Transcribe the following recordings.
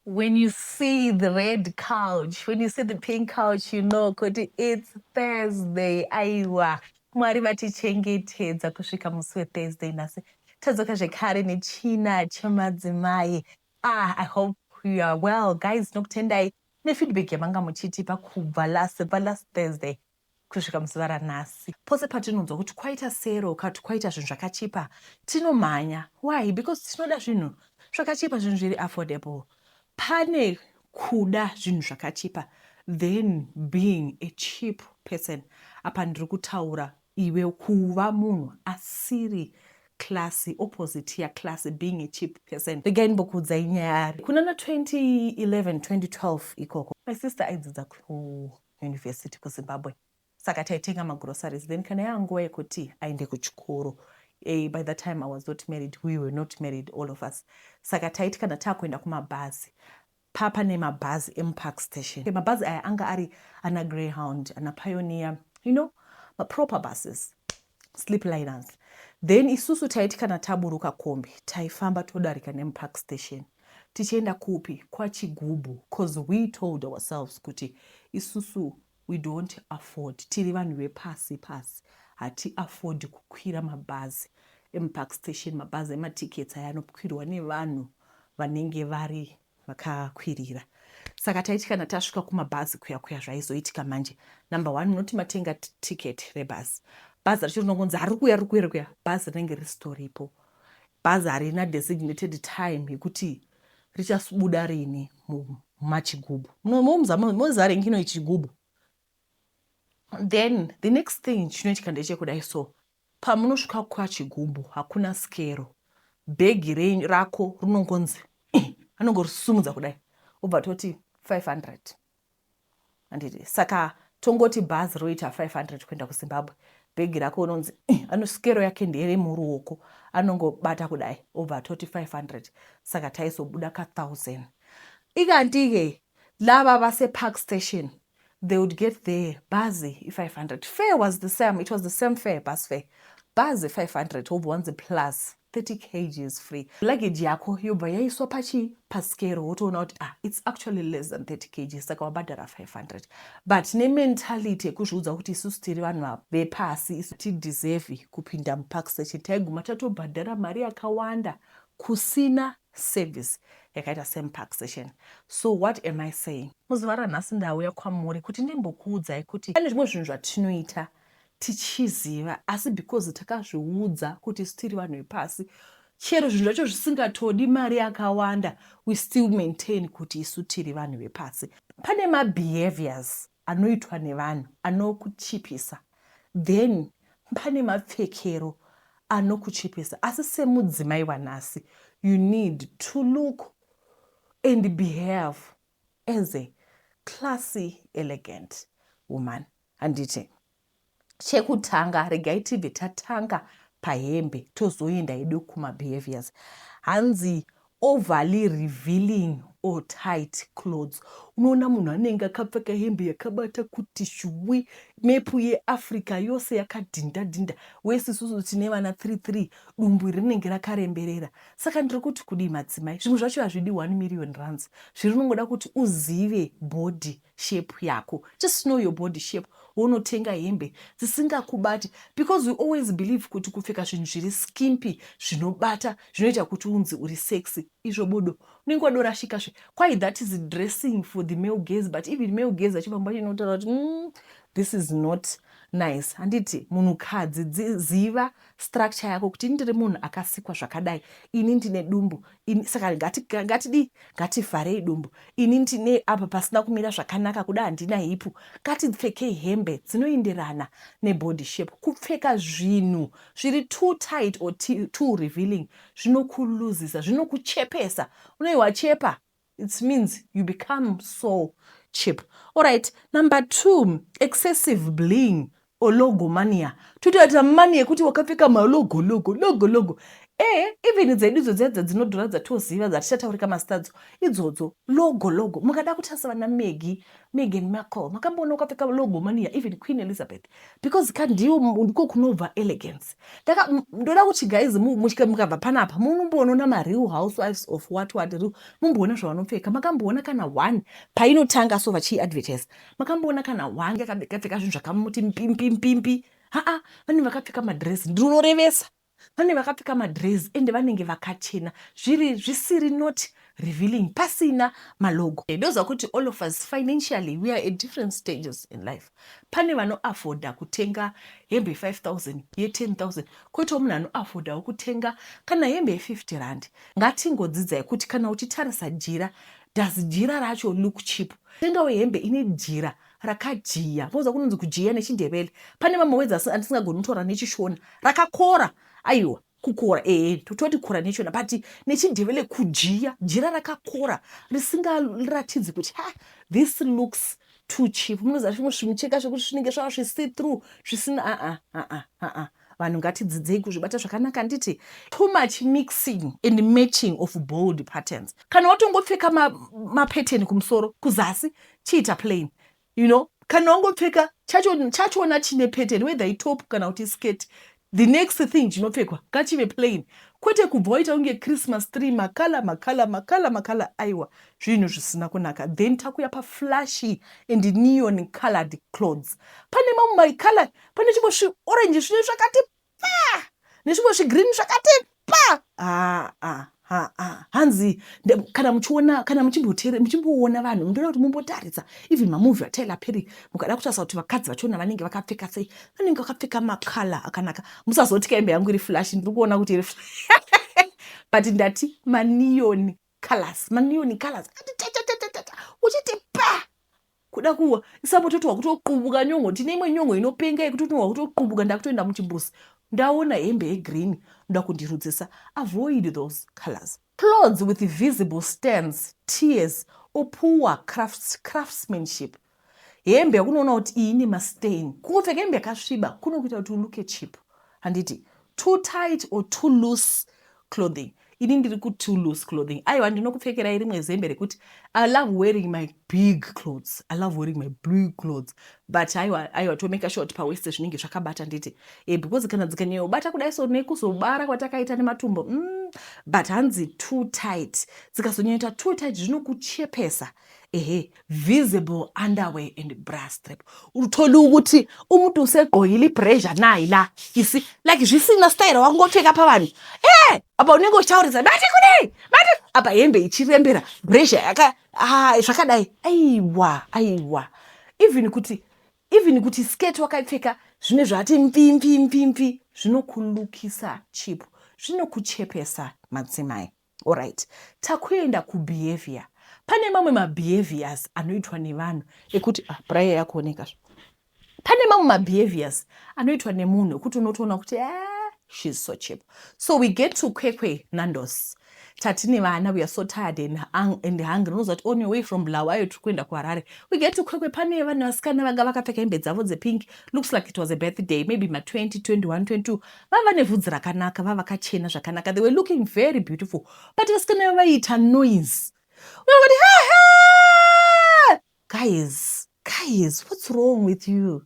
When you see the red couch, when you see the pink couch, you know kuti it's Thursday. Aiwa, Mwari vatichengetedza kusvika musi weThursday nhasi. Tadzoka zvekare nechina chemadzimai. Ah, I hope you are well. Guys, nokutendai nefeedback yamanga muchitipa kubva last, kubva last Thursday. Kusvika muzuva ranhasi, pose patinonzwa kuti kwaita sero kana kuti kwaita zvinhu zvakachipa, tinomhanya. Why? Because tinoda zvinhu zvakachipa, zvinhu zviri affordable. Pane kuda zvinhu zvakachipa then being a cheap person. Apa ndiri kutaura iwe kuva munhu asiri classy, opposite yaclassy, being a cheap person. Regai ndimbokuudzai nyaya. Kunana 2011 2012 ikoko, my sister aidzidza kuHowa. university kuzimbabwe saka taitenga magroceries then kana yava nguva yekuti aende kuchikoro hey, eh, by the time i was not married we were not married all of us saka taiti kana taakuenda kumabhazi papa nemabhazi emupark station mabhazi aya anga ari ana greyhound ana pioneer you know maproper buses sleep liners then isusu taiti kana taburuka kombi taifamba todarika nemupark station Tichienda kupi? KwaChigubhu coz we told ourselves kuti isusu we don't afford tiri vanhu vepasi pasi hati afford kukwira mabhazi emupark station mabhazi ematickets aya anokwirwa nevanhu vanenge vari vakakwirira saka taiti kana tasvika kumabhazi kuya kuya zvaizoitika manje number one munoti matenga ticket rebhazi bhazi racho rinongonzi harikuya rikuya rikuya bhazi rinenge risitoripo Bhazi harina designated time yekuti richabuda rini mumachigubu mozare ngino ichigubu then the next thing chinoitika ndechekudai so pamunosvika kwachigubu hakuna skero bhegi renyu rako rinongonzi anongorisumudza kudai obva toti 500 handiti saka tongoti bhazi roita 500 kuenda kuzimbabwe bhegi rako unonzi eh, anosikero yake ndere muruoko anongobata kudai obva atoti 500 saka taizobuda ka 1000 ikandike lava vase park station they would get there bhazi i500 fair was the same it was the same fair bus fair bhazi 500 wobva wanzi plus 30 kgs free luggage yako yobva yaiswa pachii paskero wotoona kuti ah its actually less than 30 kgs saka wabhadhara 500 but nementality yekuzviudza kuti isusu tiri vanhu vepasi isu tideserve kupinda mupark section taiguma tatobhadhara mari yakawanda kusina service yakaita semupark session so what am i saying muzuva ranhasi ndauya kwamuri kuti ndimbokuudzai kuti pane zvimwe zvinhu zvatinoita tichiziva asi because takazviudza kuti isu tiri vanhu vepasi chero zvinhu zvacho zvisingatodi mari yakawanda we still maintain kuti isu tiri vanhu vepasi pane mabehaviors anoitwa nevanhu anokuchipisa then pane mapfekero anokuchipisa asi semudzimai wanhasi you need to look and behave as a classy elegant woman Handiti. Chekutanga regai tibve tatanga pahembe tozoenda hedu kumabehaviours. Hanzi overly revealing or tight clothes. Unoona munhu anenge akapfeka hembe yakabata kuti shuwi, mepu yeAfrica yose yakadhinda dhinda, wesi isusu tine vana 3 3 dumbu rinenge rakaremberera. Saka ndiri kuti kudii madzimai? Zvinhu zvacho hazvidi 1 million rands. Zvirinongoda kuti uzive body shape yako just know your body shape wonotenga hembe dzisingakubati because we always believe kuti kupfeka zvinhu zviri skimpy zvinobata zvinoita kuti unzi uri sexy izvo bodo unenge wadorashika zve kwai that is dressing for the male gaze but even male gaze achivamba chinotaura kuti mm, this is not nice handiti munhukadzi ziva structure yako kuti ini ndiri munhu akasikwa zvakadai ini ndine dumbu ini saka ngatidii ngati ngativharei dumbu ini ndine apa pasina kumira zvakanaka kuda handina hipu ngatipfekei hembe dzinoenderana nebody shape kupfeka zvinhu zviri too tight or too revealing zvinokuluzisa zvinokuchepesa unei wachepa It means you become so cheap. Alright, number two, excessive bling or logo mania. Totoita mani yekuti wakapfeka malogo logo logo logo. Eh, even dzedu idzo dziya dzadzinodhura dzatoziva dzatichataurika masitadzo idzodzo logo logo. Mukada kutarisa vana Maggie, Meghan Markle, makamboona ukapfeka logo mania even Queen Elizabeth. because ka ndiyo ndiko kunobva elegance taka ndoda kuti guys muchika mukabva panapa munomboonona mareal housewives of what what real mumboona zvavanopfeka makamboona kana one painotanga so vachiiadvertise makamboona kana one yakapfeka zvinhu zvakamuti mpimpimpi haa vane vakapfeka madress ndinorevesa Pane vakapfeka madrezi ende vanenge vakachena zviri zvisiri not revealing pasina malogo. Ndoziva kuti all of us financially we are at different stages in life. Pane vano afforder kutenga hembe ye 5000 ye 10000 koitawo munhu ano affordawo kutenga kana hembe ye 50 rand. Ngatingodzidzai kuti kana uchitarisa jira does jira racho look cheap. Tengawo hembe ine jira Rakajiya. Vauza kunonzi kujiya nechindebele. Pane mamwe wedzi asi andisingagoni kutaura nechishona. Rakakora. Aiwa. Kukora ee toti kora nechona but nechindebele kujiya jira rakakora risingaratidzi kuti ha this looks too cheap munoziva zvimwe zvimucheka zvekuti zvinenge zvava zvisi through zvisina aa aa aa vanhu ngatidzidzei kuzvibata zvakanaka handiti too much mixing and matching of bold patterns kana watongopfeka mapatern ma kumusoro kuzasi chiita plain you know kana wangopfeka chachona chine pattern whether itop kana kuti skirt the next thing chinopfekwa ngachive plain kwete kubva waita kunge christmas tree makala makala makala makala aiwa zvinhu zvisina kunaka then takuya paflashy and neon colored clothes pane mamwe maikala pane chimwe zviorenji zvine zvakati pa nezvimwe zvigreen zvakati pa aa ah, ah, ah, hanzi kana muchiona kana muchimboona vanhu mundoda kuti mumbotaridza even mamovhi ataila peri mukada kutarisa kuti vakadzi vachiona vanenge vakapfeka sei vanenge vakapfeka makala akanaka musazoti kaimbe yangu iri flash ndiri kuona kuti iri but ndati maniyoni colors maniyoni colors achiti pa Kuda kuwa isa moto kuti wakutoqubuka nyongo tine imwe nyongo inopenga yekuti uno wakutoqubuka ndakutoenda muchimbuzi ndaona hembe yegreen ndoda kundirudzisa avoid those colors. Clothes with visible stands, tears or poor crafts, craftsmanship hembe yakunoona kuti iyi ine mastain kungopfeka hembe yakasviba kunokuita kuti uluke cheap handiti too tight or too loose clothing ini ndiri kuti too loose clothing aiwa ndinokupfekerai rimwe zembe rekuti i love wearing my big clothes i love wearing my big clothes but aiwa aiwa tomeka sure kuti paweste zvinenge zvakabata nditi e eh, because kana dzikanyayobata kudai so nekuzobara kwatakaita nematumbo mm, but hanzi too tight dzikazonyanyoita too tight zvinokuchepesa ehe visible underwear and bra strap utoli ukuthi umuntu usegqokile ibrasure nayi la isi like zvisina style wangopfeka pavanhu e eh, apa unenge uchitaurisa bati kudei bati apa hembe ichirembera brasure yaka ah, zvakadai aiwa aiwa even kuti even kuti skirt wakaipfeka zvine zvati mpimpimpimpfi zvinokulukisa chipo zvinokuchepesa madzimai Alright, takuenda kubehavior. Pane mamwe mabehaviors anoitwa nevanhu ekuti ah, prayer yakuoneka zve. Pane mamwe mabehaviors anoitwa nemunhu ekuti unotoona kuti ah, she's so cheap. So we get to Kwekwe Nandos. Tatine vana we are so tired and, hung and hungry. Unoziva kuti on your way from Bulawayo tiri kuenda kuHarare. We get to Kwekwe pane vanhu vasikana vanga vakapfeka hembe dzavo dzepink. Looks like it was a birthday, maybe ma 20, 21, 22. vava nevhudzi rakanaka vavakachena zvakanaka they were looking very beautiful but vasikana va vaiita noise vakati guys guys what's wrong with you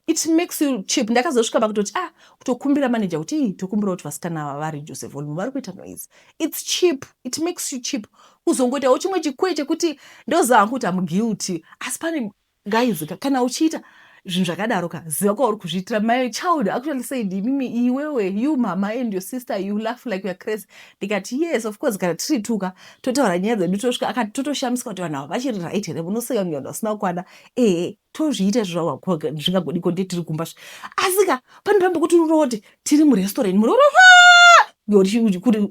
it makes you cheap ndakazosvika pakutoti ah kutokumbira manager kuti ii tokumbira kuti vasikana ava vari jose volume vari kuita noise its cheap it makes you cheap kuzongoitawo chimwe chikwe chekuti ndoziva hangu kuti amuguilty asi pane Guys ka, kana uchiita zvinhu zvakadaro ka ziva kwauri kuzviitira my child actually said imimi iwewe you mama and your sister you laugh like you're crazy ndikati yes of course kana tiri tuka totaura nyaya dzedu tosvika akati totoshamisika kuti vanhu ava vachiri right here munoseka kunge vanhu vasina kukwana ehe tozviita izvozvazvingagodiko nde tiri kumba zve asi ka pane pambe kuti unooti tiri murestaurant muroora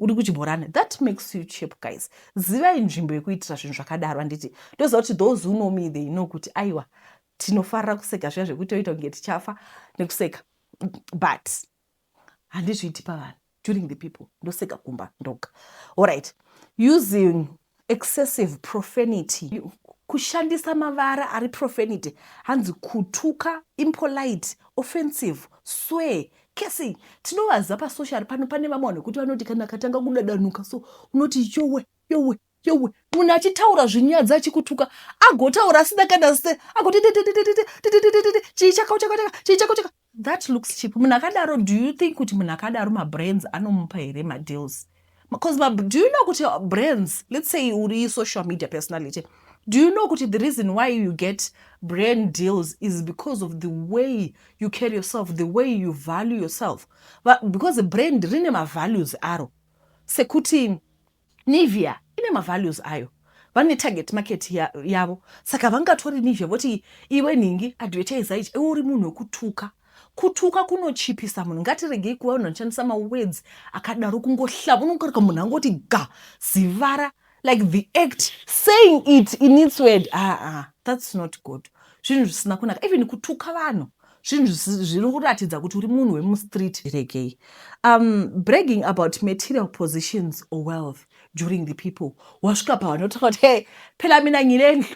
uri kuchimhorana that makes you chip guys zivai nzvimbo yekuitira zvinhu zvakadaro handiti ndoziva kuti those who know me they know kuti aiwa tinofarira kuseka zviya zvekuti toita kunge tichafa nekuseka but handizviiti pavanhu during the people ndoseka kumba ndoga allright using excessive profanity kushandisa mavara ari profanity hanzi kutuka impolite offensive swe Casey, tinovaziva pasocial pano pane vamwe vanhu kuti vanoti kana akatanga kudadanuka so unoti yowe yowe yowe munhu achitaura zvinyadzi achikutuka agotaura asina kana se agoti chii chakao chakao chaka chii chakao chaka that looks cheap munhu akadaro do you think kuti munhu akadaro mabrains anomupa here madeals Because ma, do you know kuti brands, let's say uri social media personality, do you know kuti the reason why you get brand deals is because of the way you carry yourself, the way you value yourself. But because brand rine mavalues aro. Sekuti Nivea ine mavalues ayo. vane target market yavo saka vangatori nivea voti iwe nhingi advertise ichi iwe uri munhu wekutuka Kutuka kunochipisa munhu. Ngatiregei kuva vanhu vanoshandisa mawords akadaro kungohlava. Unokarika munhu angoti ga, zivara, like the act saying it in its word. Ah, ah, that's not good. Zvinhu zvisina kunaka. Even kutuka vanhu zvinhu zviri kuratidza kuti uri munhu wemustreet regei um, bragging about material positions or wealth during the people wasvika pavanotaka kuti hey phela mina nyine ndlu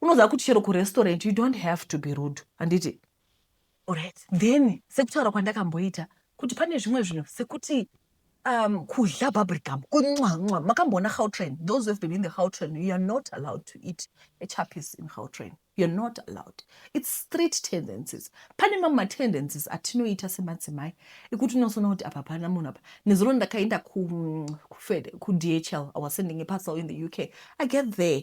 unoziva kuti chero kurestaurant you don't have to be rude handiti right then sekutaura kwandakamboita kuti pane zvimwe zvinhu sekuti um, kudla bubblegum kunwanwa makamboona gautrain those have been in the gautrain you are not allowed to eat a chapis in gautrain you are not allowed its street tendencies pane mamwe matendencies atinoita semadzimai ekuti unosona kuti apa pana munhu apa nezuro ndakaenda kudhl ku i was sending a parcel in the uk i get there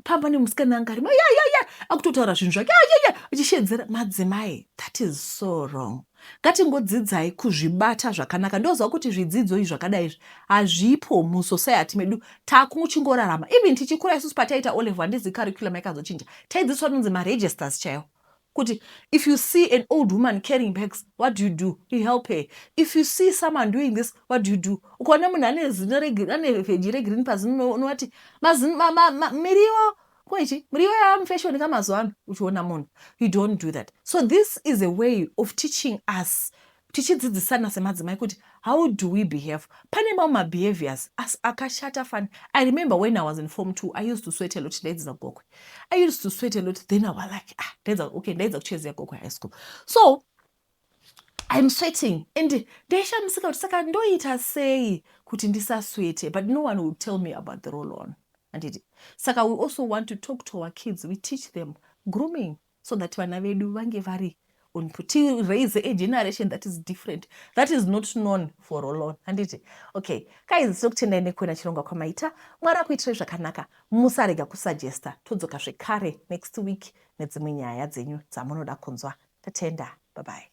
pamba nemusikana anga arimo ya ya ya akutotaura zvinhu zvake ya ya achishedzera madzimai that is so wrong ngatingodzidzai kuzvibata zvakanaka ndoziva kuti zvidzidzo izvi zvakadai izvi hazvipo musociety medu takuchingorarama even tichikura isusu pataiita olevo handizi curriculum yaikazochinja taidzidziswa tinonzi maregisters chaiwo Kuti if you see an old woman carrying bags what do you do? You help her. If you see someone doing this what do you do? Ukaona munhu ane zino regreen, ane veggie regreen pazino unovati mazino ma, ma, ma, miriwo kwechi miriwo yamufashoni ka mazuva ano uchiona munhu you don't do that so this is a way of teaching us tichidzidzisana semadzimai kuti how do we behave pane mamwe mabehaviors as akashata fani i remember when i was in form two i used to sweat a lot ndaidzidza gokwe i used to sweat a lot then i was like ah ndaidza okay ndaidza kuchezea gokwe high school so im sweating and ndaishamisika kuti saka ndoita sei kuti ndisaswete but no one will tell me about the role on anditi saka we also want to talk to our kids we teach them grooming so that vana vedu vange vari on to raise a generation that is different that is not known for alone handiti okay kaizi tiri kutendai nekuona chirongwa kwamaita mwari akuitirai zvakanaka musarega kusuggesta todzoka zvekare next week nedzimwe nyaya dzenyu dzamunoda kunzwa tatenda babai